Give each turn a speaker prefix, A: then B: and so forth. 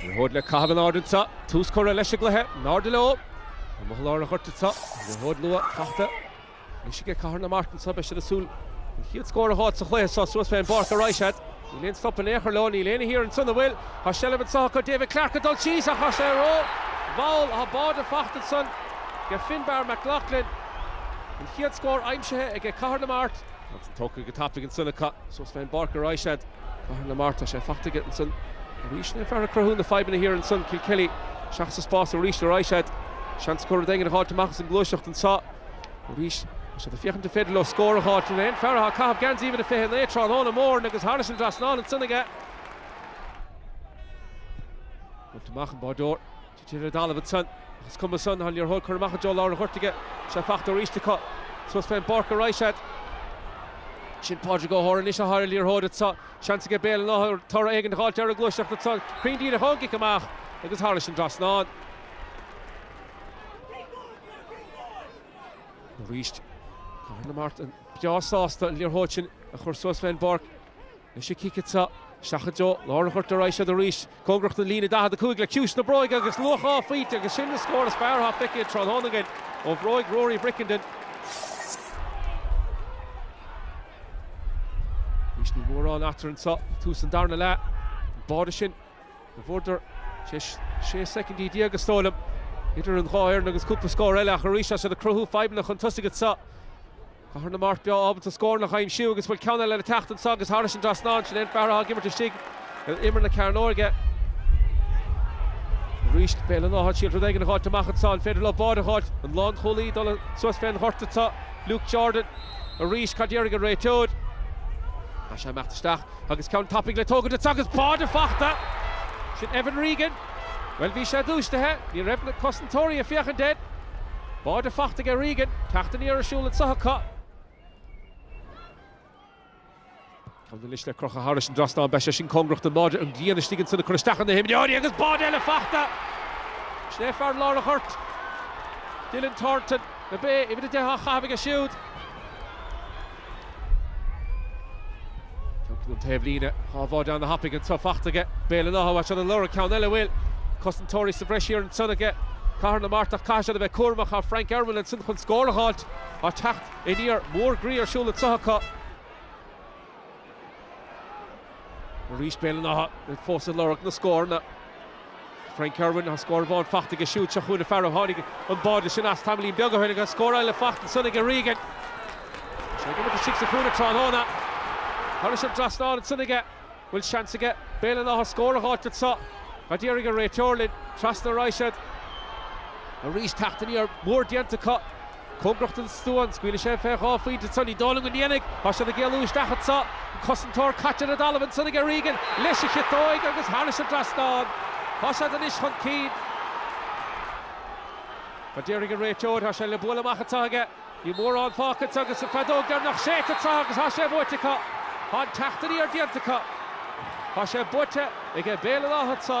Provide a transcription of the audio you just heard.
A: Liathróid le caitheamh in airde anseo, tús curtha leis an gcluiche, in airde leo, amach i lár an ghoirt anseo, liathróid luath fachta, anois aige Cathair na Mart anseo, beidh siad ag súil an chéad scór a dh'fháil sa chluiche seo, suas fé an bpáirc a raghaidh siad, níl aon stop in aon chor leo, níl éinne thiar anseo, an bhfuil? Tá seilbh anseo acu, David Clarke ag dul síos ach tá sé rómhall, tá báide fachta ansan, ag Finbarr McLaughlin, an chéad scór aimsithe aige Cathair na Mart. Agus é tógtha go tapaidh ansan acu. Suas fén bpáirc a raghaidh siad. Cathair na Mart, tá sé faighte aige ansan. Arís an fear ag cruthú na fadhbanna thiar ansan. Kilkelly, isteach sa spás arís a raghaidh siad. Seans acu rud éigin a dh'fháilt amach as an ngluaiseacht anseo. Arís, tá siad ag féachaint an féidir leo scór a fháilt. Sin é an fear atá ag caitheamh geansaí uimhir a 29 tráthnóna mór agus thairis an trasnán ansan aige. Bhaint amach an báireoir. Deir O'Donovan san, ach is cuma san, liathróid curtha amach i dtreo lár an ghoirt aige. Tá sé fachta arís acu. Suas fén bpáirc a raghaidh siad. Sin Pádraig O'Hora anois atá ar an liathróid anso. Seans aige Béal an Átha toradh éigin a dh'fháilt ar an ngluaiseacht anso. Cruinn díreach ón gcic amach agus thairis an dtrasnán. Arís, Conor Martin breá sásta an liathróid sin a chur suas fén bpáirc. Anois a chic anseo, isteach i dtreo lár an ghoirt a raghaidh siad arís, cóngarach don líne 45 le ciumhais na bróige agus luach dhá phointe agus sin an scór is fearr atá feicthe an tráthnóna againn ó bhróig Rory Brickenden. Anois níl mórán eatarthu anseo ag tús an darna leath, an báire sin a bhfuaireadar tar éis sé soicindí déag is dóigh liom idir an dhá fhoireann agus cúpla scór eile ach arís tá siad ag cruthú fadhbanna chun tosaigh anseo. Cathair na Mart a bheith ábalta scóranna a aimsiú agus an bhfuil ceann eile le teacht anseo agus thairis an trasnán. Sin é an fear atá ag imirt istigh ar imeall na cearnóige. Arís Béal an Átha, ag súil rud éigin a dh'fháilt amach anseo. An féidir leo báide a dh'fháilt? An lánchúlaí ag dul suas fé an ghort anseo, Luke Jordan. Arís cad déarfaidh an réiteoir? Tá sé ag imeacht isteach. Agus ceann tapaidh le tógaint acu agus báide fachta! Sin Evan Regan. Bhuel, bhí sé dúisithe. Ní raibh na cosantóirí ag féachaint air. Báide fachta aige Regan. Teacht aniar ar siúl anseo acu. Ceann anois le crochadh thairis an dtrasnán. Beidh sé sin cóngarach don mbáide. An grian istigh ansin ag cur isteach ar na himreoirí agus báide eile fachta! Sin é fear lár an ghoirt. Dylan Thornton, na Bé, uimhir a deich á chaitheamh aige siúd. Tiontaigh an taobhlíne. Dhá bháide ana-thapaidh anso fachta aige Béal an Átha, tá siad ag lorg ceann eile, an bhfuil cosantóirí sa bhreis thiar ansan aige Cathair na Mart, ach caithfidh siad a bheith cúramach. Tá Frank Irwin ansin chun scór a dh'fháilt. Tá teacht aniar mór groí ar siúl anso acu. Arís Béal an Átha fós ag lorg na scóranna. Frank Irwin agus scór amháin faighte aige siúd. Seo chugainn an fear a tháinig an báide sin as tamaillín beag ó shin agus scór eile faighte ansan aige, Regan. Sé go bhfuil istigh sa chúinne tráthnóna. Thairis an dtrasnán ansan aige. Bhfuil seans aige Béal an Átha scór a dh'fháilt anso? Cad déarfaidh an réiteoir linn? Trasna a raghaidh siad. Arís teacht aniar mór déanta acu. Cóngaracht an stua, an scaoilfidh sé fé dhá phointe ansan í. Dála an Fhiannaigh, tá siad ag éalú isteach anso, an cosantóir caite ar an dtalamh ansan aige Regan, leis a chiotóig agus thairis an dtrasnán. Tá siad anois chun cinn. Cad déarfaidh an réiteoir, tá sé le bualadh amach anso aige. Níl mórán fágtha anso agus an feadóg deireanach séidte anso agus tá sé buaite acu. Tá an teacht aniar déanta acu. Tá sé buaite aige Béal an Átha anso.